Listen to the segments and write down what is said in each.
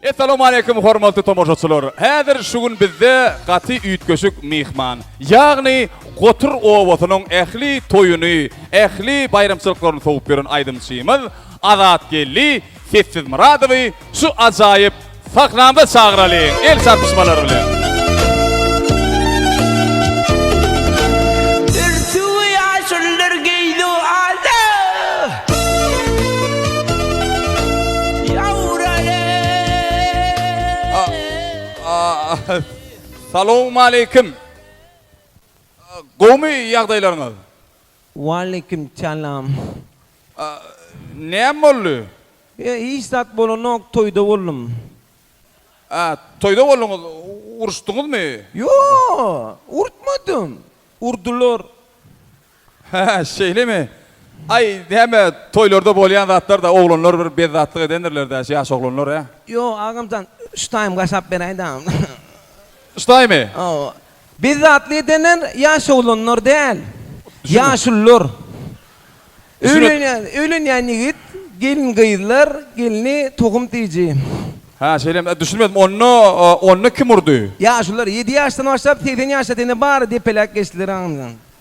Essalawmaleýkum hormatly tomaşaçylar! Häzir şu gün bizde gaty üýtgeşik myhman, ýagny Gotur obasynyň ähli toýuny, ähli baýramçylyklaryny sowup ýören aýdymçymyz Azatgeldi Sessizmyradowy şu ajaýyp sahnamyza çagyralyň, el çarpyşmalar bilen! Salowmaleýkim. Gowumy ýagdaýlaryňyz? Waleýkim salam. Näme boldy? Ýa hiç zat bolanok, toýda boldum. A, toýda bolduňyz. Uruşdyňyzmy? Ýo, urtmadym. Urdular. Hä, şeýlemi? Aý, näme, toýlarda bolýan zatlar-da, oglanlar bir bezzatlyk edendirler-dä, şu ýaş oglanlar, hä? Ýo, agamjan, şu taýym gaşap beräý dagyn. Şu taýymy? Hawa. Bezzatlyk edenler ýaş oglanlar däl, ýaşulular. Öýlenýän, öýlenýän ýigit, gelin-gyzlar, gelni tohum tiýiji. Hä, şeýlemi? Ä, düşünmedim. Onda, onda kim urdy? Ýaşulular, ýedi ýaşdan başlap, segsen ýaşa çenli bary depeläp geçdiler, agamjan.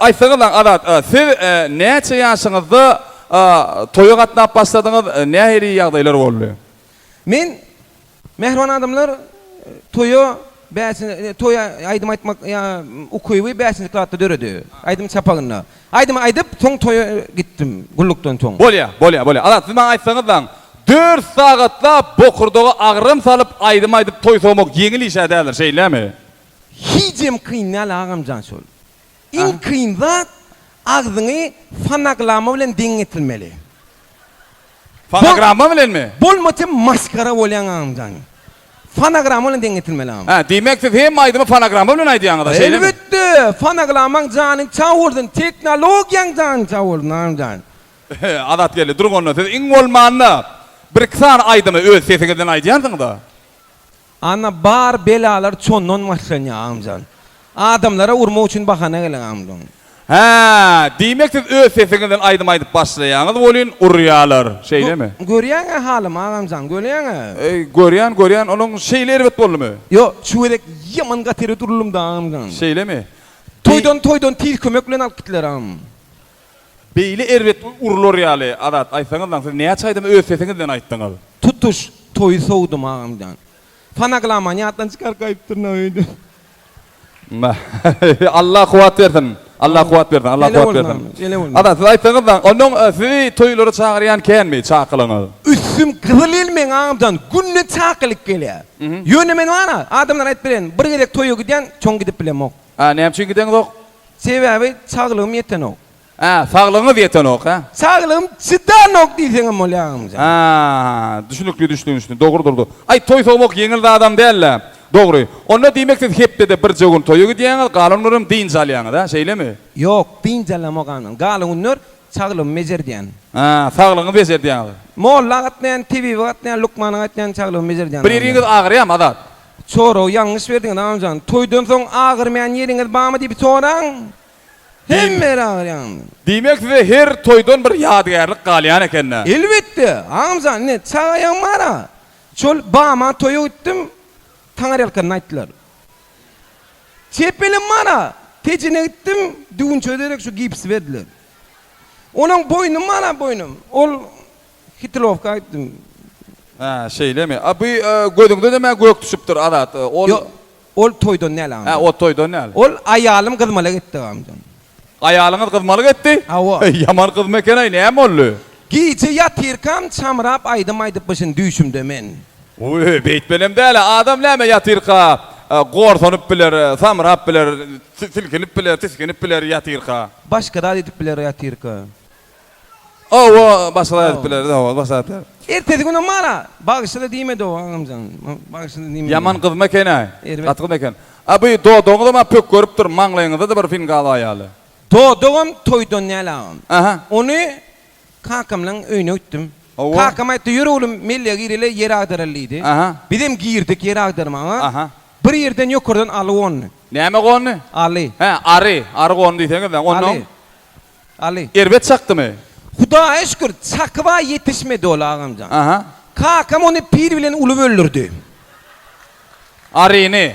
Aýtsaňyzlaň Azat, siz näçe ýaşyňyzda toýa gatnap başladyňyz, nähili ýagdaýlar boldy? Men, mähriban adamlar, toýa bäşinji, toý aýdym aýtmak ukyby bäşinji klasda döredi. Aýdym çapagynda. Aýdymy aýdyp, soň toýa gitdim, gullukdan soň. Bolýa, bolýa, bolýa. Azat, siz maňa aýtsaňyzlaň, dört sagatlap bokurdaga agram salyp aýdym aýdyp toý sowmak ýeňil iş-ä däldir, şeýlemi? Hijem kyn däl agamjan şol. Iň kyn zat agzyňy fonoglama bilen deň getirmeli. Fonogramma bilenmi? Bolmasa masgara bolýaň agamjan. Fonogramma bilen deň getirmeli agam. Hä, diýmek siz hemme aýdymy fonogramma bilen aýdýaňyza şeýlemi? Elbetde, fonoglammaň janyň çag bolsun, teknologiýaň jany çag bolsun agamjan. Azat geldi, duruň onda siz iň bolmanda bir iki sany aýdymy öz sesiňizden aýdýarsyňyz-a. Ana bar belalar çondan başlanýa agmjan. Adamlara urmak üçin bahana gelen agmjan. Hä, diýmek siz öz sesiňizden aýdym aýdyp başlaýaňyz welin urýalar, şeýlemi? Görýäňä halymy agamjan, görýäňä. Görýän, görýän, onuň şeýle erbet boldumy? Ýok, şu gezek ýaman gaty erbet uruldymda agamjan. Şeýlemi? Toýdan toýdan tiz kömek bilen alyp gitdiler agam. Beýle erbet urular ýaly Azat aýtsaňyzlaň siz näçe aýdymy öz sesiňizden aýtdyňyz. Tutuş toýy sowdum agam jan. Fonogramany ýatdan çykaryp gaýypdyryn-a öýde. Allah kuwat bersin. Allah kuwat bersin. Allah kuwat bersin. Azat siz aýtsaňyzlaň onuň sizi toýlara çagyrýan känmi çakylygyňyz. Üstüm gyzyl ýel meň agam jan günde çakylyk gelýär. Ýöne men bar-a adamlara aýdyp bilerin bir gezek toýa gidýän çoň gidip bilemok. Hä, näme üçin gideňzok? Sebäbi saglygym ýetenok. Hä, saglygyňyz ýetenok, hä? Saglygym çydanok diýseňem bolýar, agamjan. Hä, düşnükli, düşnükli. Dogrudyr-da. Aý, toý sowmak ýeňil zadam däl-le. Dogry. Onda diýmek siz hepdede birje gün toýa gidýäňiz, galan günlerem dynç alýaňyz, hä, şeýlemi? Ýok, dynç alamok, agamjan. Galan günler saglygymy bejerdýän. Hä, saglygyňyzy bejerdýäňiz. Molla gatnaýan, tebibe gatnaýan, lukmana gatnaýan, saglygymy bejerdýän, agamjan. Bir ýeriňiz agyrýamy, Azat? Sorag ýalňyş berdiňiz Annajan. Toýdan soň agyrmaýan ýeriňiz barmy diýip soraň. Hemme ýer agyr ýaňymy. Diýmek size her toýdan bir ýadygärlik galýan ekendä. Elbetde Annajan ine çagaýam bara. Şol bama toýa gitdim taňyrýalkanyny aýtdylar. Çepelim bara Tejene gitdim düwünçege derek şu gipsi berdiler. Onuň boýnum bara boýnum ol Hitilowka aýtdym. Hä, şeýlemi? A bu gözüňde näme gök düşüpdir, Azat? Ol Ýok, ol toýdan däl agam. Hä, ol toýdan däl. Ol aýalym gyzmalyk etdi agamjan. Aýalyňyz gyzmalyk etdi? Hawa. Heý, ýaman gyzmy eken-aý, näme boldy? Gije ýatyrkam çamrap aýdym aýdypmyşyn düýşümde men. Uý, beýtmelem däl-ä. Adam näme ýatyrka gorsanyp biler, samrap biler, silkinip biler, tisginip biler ýatyrka? Başga zat edip biler ýatyrka. Hawa, başga-da aýdyp bileris, hawa, başga-da aýdyp bileris. Ertesi günem bar-a, bagşy-da diýmedi-ow, agam jan, bagşy-da diýmedi. Ýaman gyzmy eken-äý? Erbet. Gaty gyzmy eken. A bu dodagyňyzam maňa pök görüp dur, maňlaýyňyzda-da bir finga bar ýaly. Dodagam toýdan däl, agam. Aha. Ony kakamlaň öýüne gitdim. Hawa. Kakam aýtdy, Ýör oglum, Mellige gireli, ýer agdaraly diýdi. Aha. Bizem girdik ýer agdarmaga. Aha. Bir ýerden ýokardan aly gondy. Näme gondy? Aly. Hä, ary, ary gondy diýseňiz-dä. Onnoň? Aly. Aly. Erbet çakdymy? Hudaýa şükür, çakyba ýetişmedi ol, agamjan. Aha. Kakam ony pil bilen uly öldürdi. Aryny.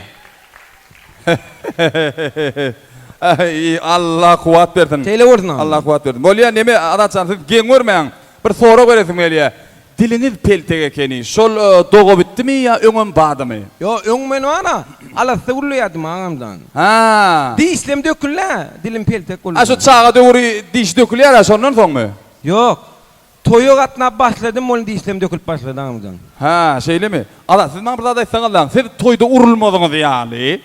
Aý, Alla kuwwat bersin. Şeýle bolsun, agamjan. Alla kuwwat bersin. Bolýa, neme, Azatjan, siz geň görmäň. Bir sorag beresim gelýär. Diliňiz peltek ekeni şol doga bitdimi ýa öňem badymy. Ýo öň men bar-a, alasda gürleýärdim agamjan. Haa. Dişlem döküldi-ä, dilim peltek boldy. A şu çaga döwri diş dökülýär-ä şondan soňmy? Ýok. Toýa gatnap başladym ol dişlem dökülip başlady agamjan. Haa şeýlemi. Ala siz maňa bir zat aýtsaňyzlaň, siz toýda urulmadyňyz ýaly.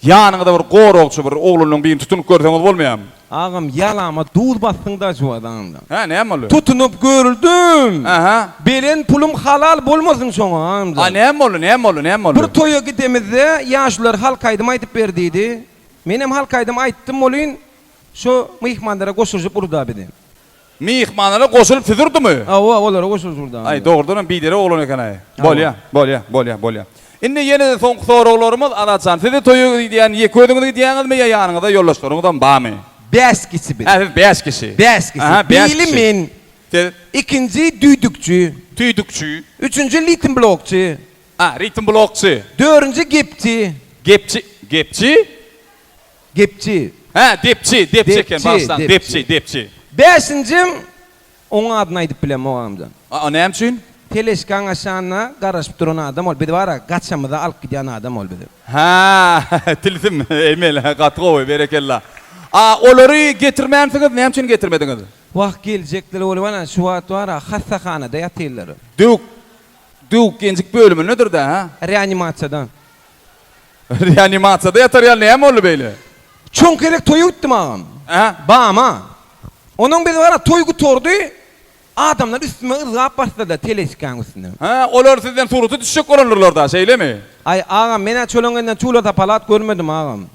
Ýanyňyzda bir goragçy bir oglunyň birini tutunyp görseňiz bolmaýamy. Agam ýalama duz basdyň daşwazanda. Hä näme boldy? Tutunyp görüldüm. Aha. Beren pulum halal bolmasyn şoňa agamjan. A näme boldy näme boldy näme boldy. Bir toýa gidemizde ýaşular halk aýdym aýdyp ber diýdi. Menem halk aýdym aýtdym welin şo myhmanlara goşulyşyp urda bizi. Myhmanlara goşulyp süzürdiňmi? Hawa, olara goşulyp sürdüm. Aý, dogrudanam biderek oglan eken-aý. Bolýa, bolýa, bolýa, bolýa. Indi ýene-de soňky soraglarymyz, Azat jan, siz-de toýa diýýän ýeke özüňiz gidýäňizmi ýa ýanyňyzda ýoldaşlaryňyzam barmy? Bäş kişi biz. Hä, siz bäş kişi. Bäş kişi. Aha, bäş kişi. Biri men. Siz? Ikinji düýdükçi. Tüýdükçi. Üçünji litm blokçy. A, ritm blokçy. Dörünji gepçi. Gepçi, gepçi? Gepçi. Hä, depçi, depçi eken, Depçi, bagyşlaň, depçi. depçi, depçi. Bäşinjim, oňa adyny aýdyp bilemok agamjan. A-a, näme üçin? Teležkaň aşagynda garaşyp duran adam ol, biz bar-a, gaçamyza alyp gidýän adam ol bizi. Hä, tilsim, emeli, gaty gowy, berekella. A olary getirmänsiňiz, näme üçin getirmediňiz? Wah, geljekler bolup, ana, şu wagt bar-a, hassahanada ýatyrlar. Döwük, döwük-genjik bölümindedir-dä, hä? Reanimasiýada. Reanimasiýada ýatar ýaly näme boldy beýle? Çuň gezek toýa gitdim agam. Hä? Bama. Onuň biz gara toý gutardy, adamlar üstüme yzgap basdylar telesikaň üstüne. Hä, olar sizden surata düşjek bolandyrlar-da, şeýlemi? Aý, agam, men-ä çöleňňeden çula-sapalat görmedim, agam.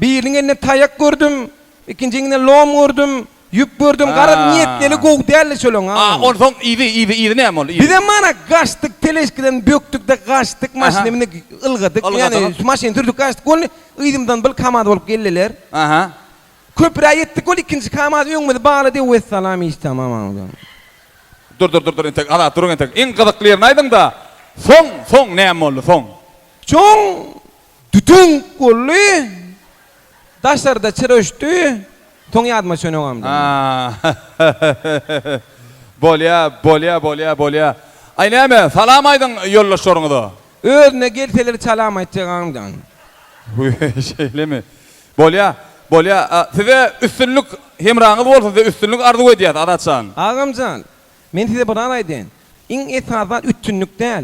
Biriniň elinde taýak gördüm, ikinjiňinde lom gördüm, ýüp gördüm, garaz niýet eli gowy däldi şolaň a. A onsoň yzy, yzy, yzy näme boldy, yzy? Bizem mana gaçdyk, teleşkiden bökdük-de gaçdyk, maşyny mindik, ylgadyk, ýagny şu maşyny sürdük gaçdyk, boldy, yzymyzdan bir kamaz bolup geldiler. Aha. Köprä ýetdik, boldy, ikinji kamaz öňümizi baglady, wessalam, hiç tamam a. Dur, dur, dur, dur, entek, Azat, duruň entek, iň gyzykly ýerini aýdyň-da, soň, soň näme boldy, soň? Soň. Dütünk boldy. Daşarda çyra öçdi. Soň ýadyma düşen öňem. Aa-ha-ha-ha-ha-ha-ha. Bolýa, bolýa, bolýa, bolýa. Aý näme, salam aýdyň ýoldaşlaryňyza. Özüne gelseler çalam aýtjagaňdan. Hüý, şeýlemi? Bolýa, bolýa. Size üstünlik, hemraňyz bolsun, size üstünlik arzuw edýäs, Azat jan. Agamjan, men size bir zat aýdaýyn. Iň esasy zat üstünlik däl.